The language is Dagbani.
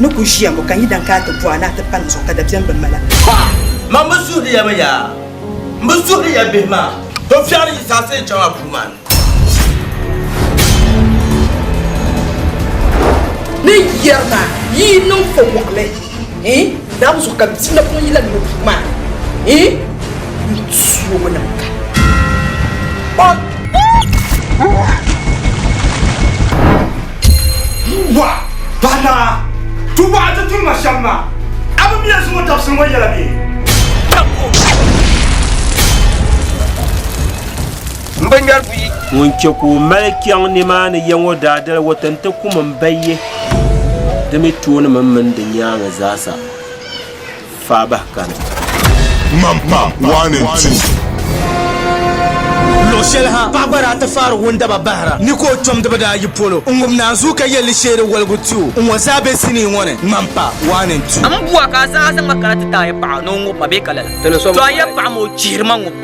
ni ku ʒiya ŋɔ ka n yi dan kaai ti bɔh a ni a ti palim zuɣu ka dabiɛm bi mali a. Ha! Man bi suhiri ya mi yaa! M bi suhiri ya bihi maa! Bɛ fiɛri yi zaa ti yi chaŋ a puu maa ni. Ni yɛri ma yi yi niŋ ko mɔɣili ii naam zuɣu ka bia napɔŋ yi lahi niŋ puu maa ni ii yi tuugi niŋ ka o. Bua, paɣa naa, tu bɔɣa ti tuhi ma shɛm maa. A bi miya zuŋɔ dabisili ŋɔ yɛla bee? M bi ŋmɛri buyi. Ŋun chɛ ka o mali kpiɔŋ nimaani ya ŋɔ daa dali o ti nti kum m ba ye, di mi tooni mini mini di nyaaŋa zaasa. Faa bahi ka ni. Mampa one and two. Luɣ shɛli ha paɣ gba daa ti faari wundaba bahira ni ka o kpɛmdiba daa yi polo n-ŋub naanzuu ka yɛl li sheeri waligu ti o. Ŋ-ŋɔ zaa be sinii ŋɔ ni, Mampa one and two. M bua ka a zaɣa zaŋ ma kana ti ti a yɛpaɣa ni o ŋub ma bee ka lala? Ti ni so mi paɣa yɛpaɣa ma o chihiri ma ŋub ma.